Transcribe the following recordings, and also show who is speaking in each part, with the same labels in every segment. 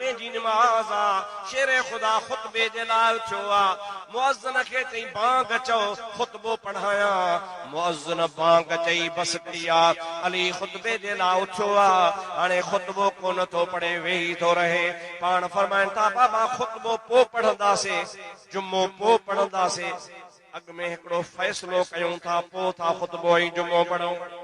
Speaker 1: جمعي جي نماز آ، شير خدا خطبي جي لاء اٿيو آ، مؤذن کي چئي بانگ چئو، خطبو پڙهايان. مؤذن بانگ چئي بس ڪئي آ، علي خطبي جي لاء اٿيو آ، هاڻي خطبو ڪونه ٿو پڙهي، ويهي ٿو رهي. پاڻ فرمائن ٿا، بابا خطبو پوء پڙهنداسين، جمعو پوء پڙهنداسين، اڳ ۾ هڪڙو فيصلو ڪيون ٿا، پوء ٿا خطبو ۽ جمعو پڙهون.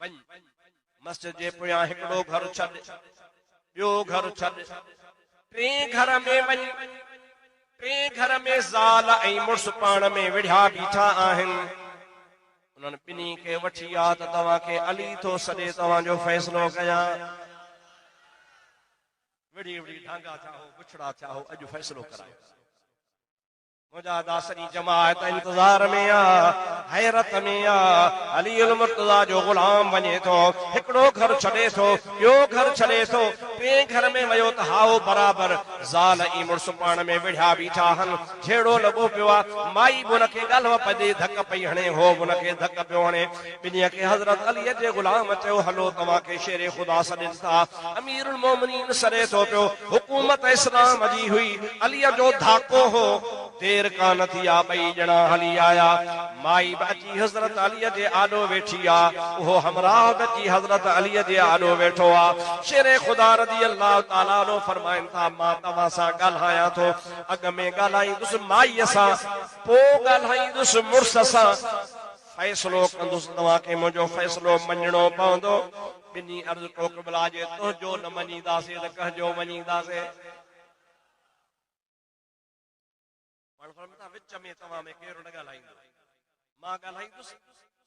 Speaker 1: وڃ، مسجد جي پويان هڪڙو گهر ڇڏ، ٻيو گهر ڇڏ، ٽئين گهر ۾ وڃ، ٽئين گهر ۾ زال ۽ مڙس پاڻ ۾ وڙهيا بيٺا آهن، انهن ٻنهي کي وٺي آ ته توهان کي علي ٿو سڏي توهان جو فيصلو ڪيان. وڙهي وڙهي ڍانگا ٿيا هو، بڇڙا ٿيا هو، اڄ فيصلو ڪرايو. منهنجا ادا سڄي جماعت انتظار ۾ آ حيرت ۾ آ علي المرتضا جو غلام وڃي ٿو هڪڙو گهر ڇڏي ٿو ٻيو گهر ڇڏي ٿو ٽين گهر ۾ ويو ته هائو برابر زال ۽ مڙس پاڻ ۾ وڙهيا بيٺا هن جهيڙو لڳو پيو آ مائي به ان کي ڳالهه پئي ڏئي ڌڪ پئي هڻي هو به ان کي ڌڪ پيو هڻي ٻنهي کي حضرت عليء جي غلام چيو، هلو توهان کي شير خدا سڏين ٿا. اميرالمؤمنين سڏي ٿو پيو. حڪومت اسلام جي هئي. عليء جو ڌاڪو هو. دير ڪانه ٿي آ ٻئي ڄڻا هلي آيا. مائي به اچي حضرت عليء جي آڏو ويٺي آ. اهو همراهه به اچي حضرت عليء جي آڏو ويٺو آ. شير خدا رضي الله تعالٰي عنه فرمائن ٿا، مان توهان سان ڳالهايان ٿو. اڳ ۾ ڳالهائيندس مائيء سان، پوء ڳالهائيندس مڙس سان. فيصلو ڪندس توهان کي منهنجو فيصلو مڃڻو پوندو. ٻنهي عرض ڪو قبلا جي تنهنجو نه مڃينداسين ته ڪنهن جو مڃينداسين. پاڻ فرمائن ٿا وچ ۾ توهان ۾ ڪير نه ڳالهائيندو. مان ڳالهائيندس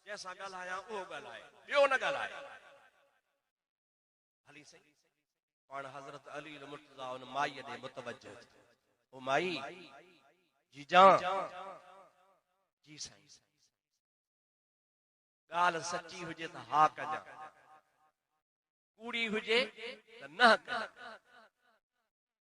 Speaker 1: جنهن سان ڳالهايان اهو ڳالهائي ٻيو نه ڳالهائي. علي سائين پاڻ حضرت علي المرتضی ان مائي ڏي متوجه ٿيو او مائي جي جان جي سائين ڳالھ سچي هجي ته ها ڪجا ڪوڙي هجي ته نه ڪجا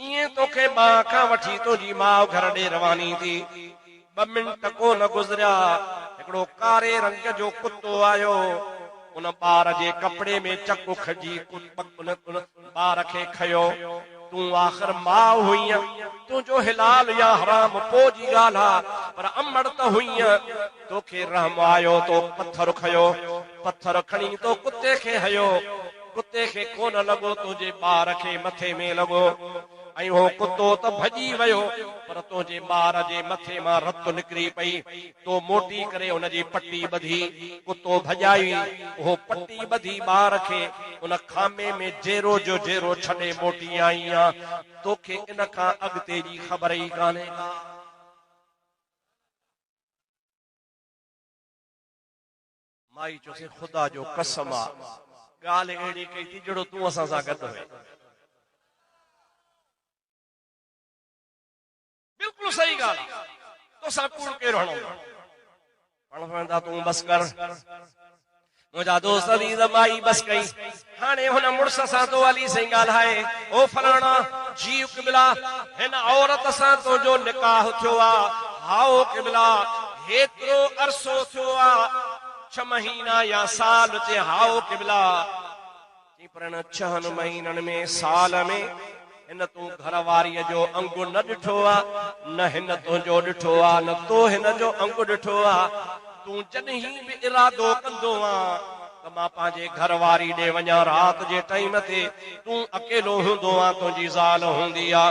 Speaker 1: ايئن توکي ٻانهن کان وٺي تنهنجي ماء گهر ڏي رواني ٿي. ٻه منٽ ڪو نه گذريا، هڪڙو ڪاري رنگ جو ڪتو آيو. ان ٻار جي ڪپڙي ۾ چڪ اکڙجي ان ٻار کي کنيو. تون آخر ماء هئينء، تنهنجو حلال يا حرام پوء جي ڳالهه آ، پر امڙ ته هئينء. توکي رحم آيو، تو پٿر کنيو. پٿر کڻي تو ڪتي کي هنيو. ڪتي کي ڪونه لڳو تنهنجي ٻار کي مٿي ۾ لڳو ۽ اهو ڪتو ته ڀڄي ويو پر تنهنجي ٻار جي مٿي مان رت نڪري پئي. تو موٽي ڪري ان جي پٽي ٻڌي. ڪتو ڀڄائي اهو پٽي ٻڌي ٻار کي ان خامي ۾ جيرو جو جيرو ڇڏي موٽي آئين ها. توکي ان کان اڳتي جي خبر ئي ڪانهي ڪا. مائي چيوسين، خدا جو قسم آ، ڳالهه اهڙي ڪئي ٿي جهڙو تون اسان سان گڏ هئين. بلڪل صحيح ڳالهه آ، توسان ڪوڙ ڪير هڻندو؟ پڻ پڻ ته تون بس ڪر. منهنجا دوست عزيز، مائي بس ڪئي. هاڻي هن مڙس سان تو علي سائين ڳالهائي، او فلاڻا، جي قبلا! هن عورت سان تنهنجو نڪاح ٿيو آ؟ هائو قبلا! هيترو عرصو ٿيو آ؟ ڇهه مهينا يا سال؟ چي هائو قبلا! چئين پر ان ڇهن مهينن ۾ سال ۾. هن تون گهر واريء جو انگ نه ڏٺو آ، نه هن تنهنجو ڏٺو آ، نه تو هن جو انگ ڏٺو آ. تون جڏهين به ارادو ڪندو آن ته مان پنهنجي گهر واري ڏي وڃان رات جي ٽائيم تي، تون اڪيلو هوندو آن، تنهنجي زال هوندي آ،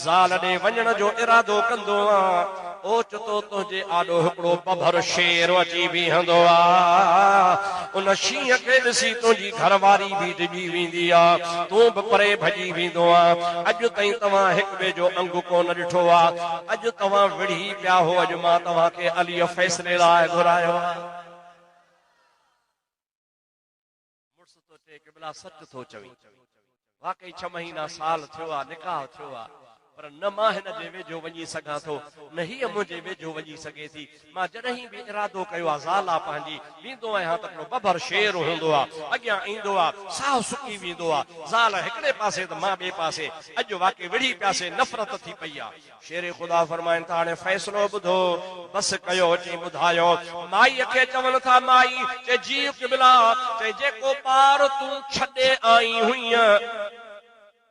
Speaker 1: زال ڏي وڃڻ جو ارادو ڪندو آن، اوچتو تنهنجي آڏو هڪڙو پڀر شير اچي بيهندو آ. ان شينهن کي ڏسي تنهنجي گهر واري به ڊڄي ويندي آ. تون به پري ڀڄي ويندو آ. اڄ تائين توهان هڪ ٻئي جو انگ ڪونه ڏٺو آ. اڄ توهان وڙهي پيا هو. اڄ مان توهان کي عليء فيصلي لاء گهرايو آ. مڙس تو چئي قبلا سچ ٿو چوين واقعي ڇهه مهينا سال ٿيو آ نڪاح ٿيو آ پر نه مان هن جي ويجهو وڃي سگهان ٿو نه هي منهنجي ويجهو وڃي سگهي ٿي مان جڏهن به ارادو ڪيو آ زال آ پنهنجي ويندو آهيان ته هڪڙو ببر شير هوندو آ اڳيان ايندو آ ساهه سڪي ويندو آ زال هڪڙي پاسي ته مان ٻئي پاسي اڄ واقعي وڙهي پياسي نفرت ٿي پئي آ شير خدا فرمائن ٿا هاڻي فيصلو ٻڌو، بس ڪيو چئين ٻڌايو. مائيء کي چون ٿا مائي! چئي جي قبلا! چئي جيڪو ٻار تون ڇڏي آئين هئينء،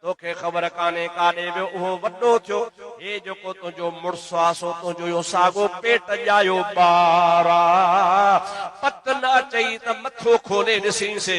Speaker 1: توکي خبر ڪانهي ڪاڏي ويو، اهو وڏو ٿيو، هي جيڪو تنهنجو مڙس آ سو تنهنجو اهو ساڳو پيٽ ڄايو ٻار آ، پت نه اچئي ته مٿو کولي ڏسين سي،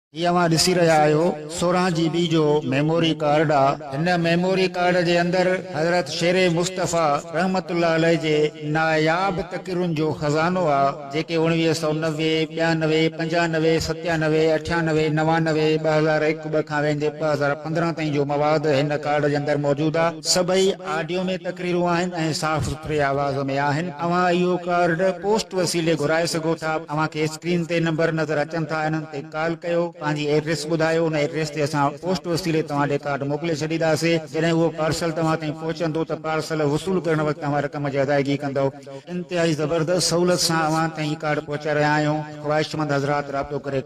Speaker 2: هي اوهان ڏسي رهيا آهيو سورهن جي بي جو ميموري ڪارڊ آ هن ميموري ڪارڊ جي اندر حضرت شير مصطفي رحمت الله عليه جي ناياب تقريرن جو خزانو آ جيڪي اوڻويهه سؤ نوي، ٻيانوي، پنجانوي، ستيانوي، اٺيانوي، نوانوي، ٻه هزار هڪ، ٻه کان ويندي ٻه هزار پندرهن تائين جو مواد هن ڪارڊ جي اندر موجود آ سڀئي آڊيو ۾ تقريرون آهن ۽ صاف سٿري آواز ۾ آهن اوهان اهو ڪارڊ پوسٽ وسيلي گهرائي سگهو ٿا اوهان کي اسڪرين تي نمبر نظر اچن ٿا انهن تي ڪال ڪيو، پنهنجي ايڊريس ٻڌايو، ان ايڊريس تي اسان پوسٽ وسيلي توهان ڏي ڪارڊ موڪلي ڇڏينداسين، جڏهن اهو پارسل توهان تائين پهچندو ته پارسل وصول ڪرڻ وقت اوهان رقم جي ادائيگي ڪندؤ، انتهائي زبردست سهولت سان اوهان تائين هي ڪارڊ پهچائي رهيا آهيون، خواهشمند حضرات رابطو ڪري.